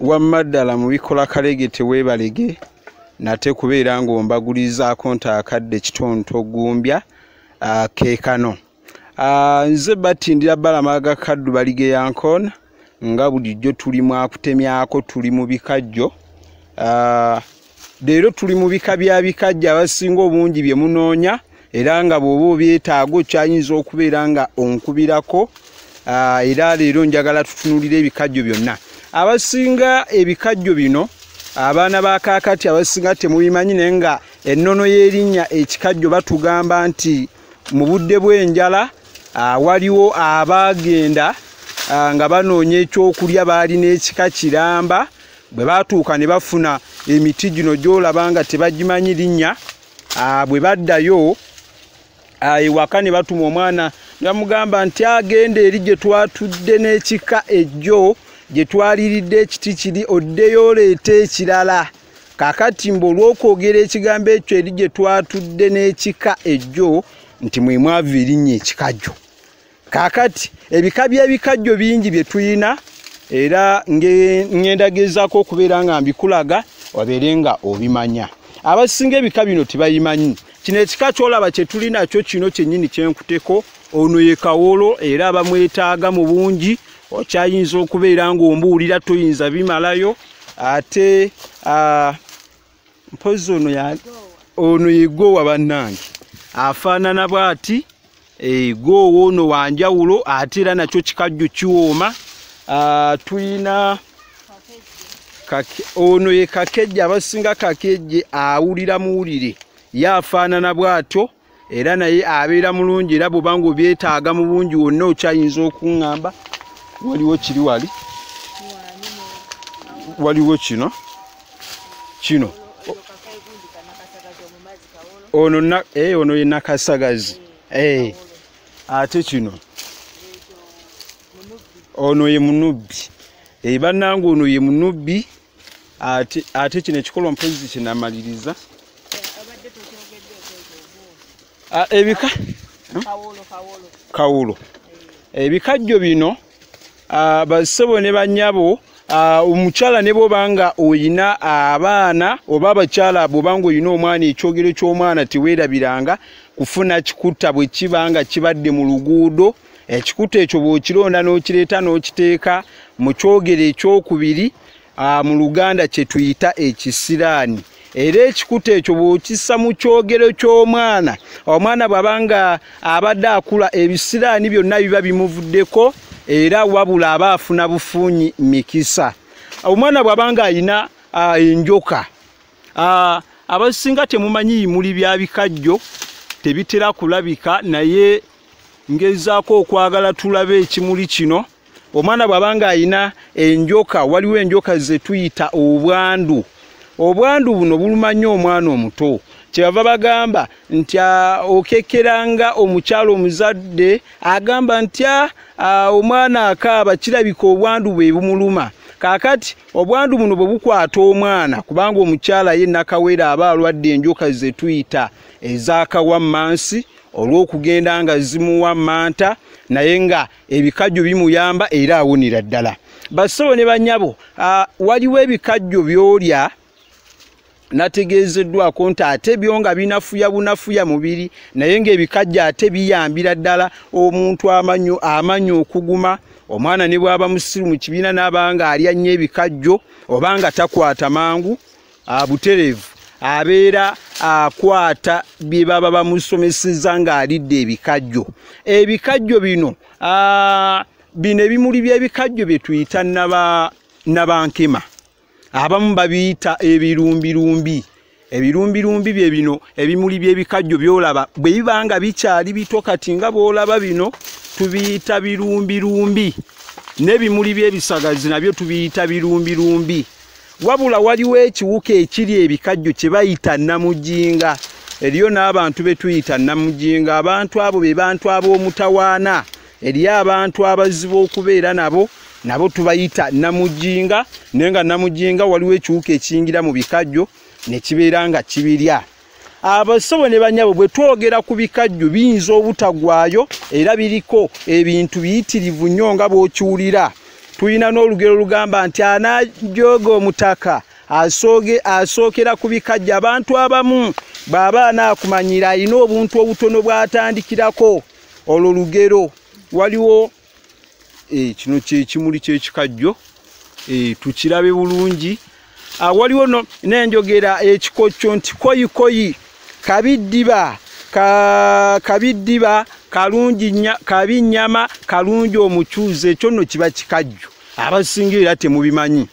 wamma ddala mu bikola kalege teweebalege nate kubeera ng'ombagulizaako nti akadde kitonto gumbya ah, keekano ah, nze batindira balama ga kaddu balige yankoona nga bulijjo tuli mwakutemyako tuli mu bikajjo ah, leero tuli mu bika bya bikajja abasinga obungi bye munoonya era nga bw'oba obyetaaga okyayinza okubeera nga onkubirako ah, era leero njagala tutunulira ebikajjo byonna abasinga ebikajjo bino abaana ba kaakati abasinga temubimanyi naye nga ennono y'erinnya ekikajjo batugamba nti mu budde bw'enjala ah, waliwo abaagenda ah, nga banoonya ekyokulya baalina ekika kiramba bwe baatuuka ne bafuna emiti gino gyolaba nga tebagimanyi linnya ah, bwe baddayo ah, ewaka ne batuma omwana nebamugamba nti agenda eri gye twatudde n'ekika ejjo gye twaliridde ekiti kiri oddeyo oleeta ekirala kakati mbu olw'okwogera ekigambo ekyo eri gye twatudde n'ekika ejjo nti mwe mwava erinnya ekikajjo kakati ebika byebikajjo bingi byetuyina era ngendagezako okubeera nga mbikulaga wabeere nga obimanya abasinga ebika bino tibayimanyi kino ekika kyolaba kyetuli nakyo kino kyenyini kyenkuteko ono ye kawolo era bamwetaaga mu bungi okyayinza okubeera ngaombuulira toyinza bimalayo ate uh, mpozi ono ya ono yegowa bannange afaanana bwati egoowa eh, ono wanjawulo ate era nakyo kikajjo kiwooma ah, tulina ono ye kakejje abasinga kakejje awulira muwulire ye afaanana bwatyo era naye abeera mulungi era bwoba nga obyetaaga mu bungi wonna okyayinza okuŋŋamba waliwo kiri wali waliwo kino kino ono eh, ono ye nakasagazi eh, ate kino ono ye munubbi eh, bannanga ono ye munubbi ate kino ekikolwa mpozi kinamaliriza ah, ebika hmm? kawulo eh. ebikajjo bino ah, basebo ne banyabo ah, omukyala ne bwoba nga olina abaana oba abakyala bwoba nga olina omwana ekyogero ky'omwana teweerabiranga kufuna kikutta bwe kiba nga kibadde mu luguudo ekikuta ekyo bw'okironda n'okireeta n'okiteeka mu kyogero ekyokubiri mu luganda kye tuyita ekisiraani era ekikuta ekyo bw'okissa mu kyogero ky'omwana omwana bw'aba nga abadde akula ebisiraani byonna biba bimuvuddeko era wabula aba afuna bufunyi mikisa omwana bw'aba nga alina enjoka abasinga temumanyi yimuli bya bikajjo tebitera kulabika naye ngezaako okwagala tulabe ekimuli kino omwana bw'aba ng'alina enjoka waliwo enjoka ze tuyita obwandu obwandu buno buluma nnyo omwana omuto kyebava bagamba nti ah, okekeranga omukyalo omuzadde agamba nti ah, ah, omwana akaaba kirabika obwandu bwe bumuluma kakati obwandu buno bwe bukwata omwana kubanga omukyala ye nakawere aba alwadde enjoka zetuyita ezakawa mansi olw'okugenda nga zimuwa manta naye nga ebikajjo bimuyamba era awunira ddala bassebo ne banyabo waliwo ebikajjo byolya nategeezeddwako nti ate byo nga binafuya bunafuya mubiri naye ngaebikajjo ate biyambira ddala omuntu amanyi okuguma omwana ne bwaba musiru mu kibiina naaba nga alya nnyo ebikajjo oba nga takwata mangu abuterevu abeera akwata bye baba bamusomeseza ng'alidde ebikajjo ebikajjo bino bino ebimuli by'ebikajjo bye tuyita nabankema abamu babiyita ebirumbirumbi ebirumbirumbi bye bino ebimuli by'ebikajjo byolaba bwe biba nga bikyali bito kati nga bwolaba bino tubiyita birumbirumbi n'ebimuli by'ebisagazi nabyo tubiyita birumbirumbi wabula waliwo ekiwuka ekiri ebikajjo kye bayita namujinga eriyo n'abantu be tuyita namujinga abantu abo be bantu ab'omutawaana eriyo abantu abazibu okubeera nabo nabo tubayita namujinga naye nga namujinga waliwo ekiwuka ekiyingira mu bikajjo ne kibeera nga kibirya abasobo ne banyabo bwe twogera ku bikajjo biyinza obutagwayo era biriko ebintu biyitirivu nnyo nga bw'okiwulira tulina n'olugero lugamba nti anajooga omutaka asooge asookera ku bikajjo abantu abamu bw'aba anaakumanyira alina obuntu obutono bw'atandikirako olwo lugero waliwo eh, kino kyekimuli kyekikajjo eh, tukirabe bulungi ah, waliwo nenjogera ekikokyo eh, nti koyikoyi kabiddiba kabiddiba kalungi kabi nyama kalungi omucuuzi ekyo nno kiba kikajjo abasinga era temubimanyi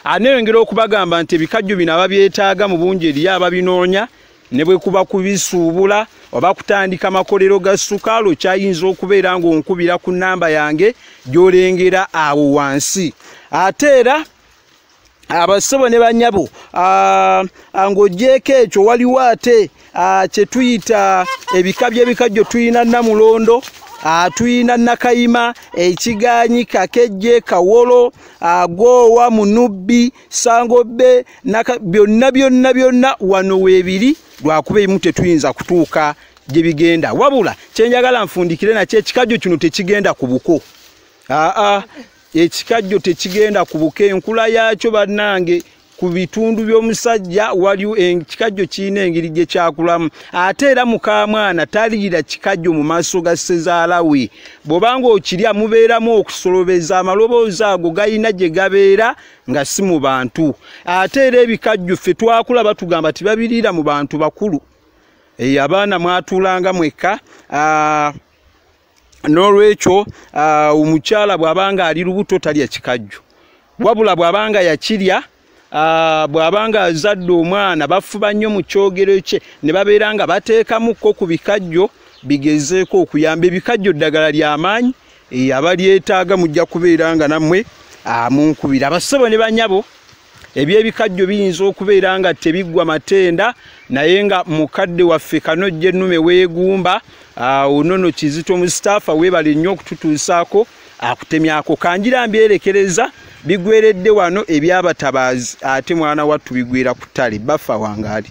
aneyongera okubagamba nti ebikajjo bino ababyetaaga mu bungi eriyo ababinoonya ne bwe kuba kubisuubula oba kutandika makolero ga sukaalo kyayinza okubeera ng'onkubira ku nnamba yange gy'olengera awo wansi ate era abassebo ne banyabo ng'ogyeko ekyo waliwo ate ah, kyetuyita ebika byebikajjo tulina namulondo ah, tulina nakayima ekiganyi kakejje kawolo agoowa ah, munubbi sangobe byonna byonna byonna wano webiri lwakuba ebimu tetuyinza kutuuka gyebigenda wabula kyenjagala nfundikire nakyo ekikajjo kino tekigenda ku buko aa ekikajjo tekigenda ku buko enkula yaakyo bannange ku bitundu by'omusajja waliwo ekikajjo kirina engeri gye kyakulamu ate era mukamwana taliira kikajjo mu maaso ga ssezaala we bw'oba ng'okirya mubeeramu okusolobeza amaloboozi ago galina gye gabeera nga si mu bantu ate era ebikajjo ffe twakula batugamba tibabiriira mu bantu bakulu eyo abaana mwatuulanga mwekka n'olwekyo ah, omukyala bw'aba nga ali lubuto talya kikajjo wabula bw'aba nga yakirya ah, bw'aba nga azadde omwana bafuba nnyo mu kyogero kye ne babeera nga bateekamukko ku bikajjo bigezeeko okuyamba ebikajjo ddagala ly'amaanyi eh, abalyetaaga mujja kubeera nga nammwe ah, munkubira abassebo ne banyabo ebyebikajjo biyinza okubeera nga tebiggwa matenda naye nga mukadde waffe kanojja ennume weegumba awo nono kizito mustapha weebale nnyo okututuusaako akutemyako kanjira mbyerekereza bigweredde wano ebyabatabaazi ate mwana wattu bigwira ku ttale baffa wangaali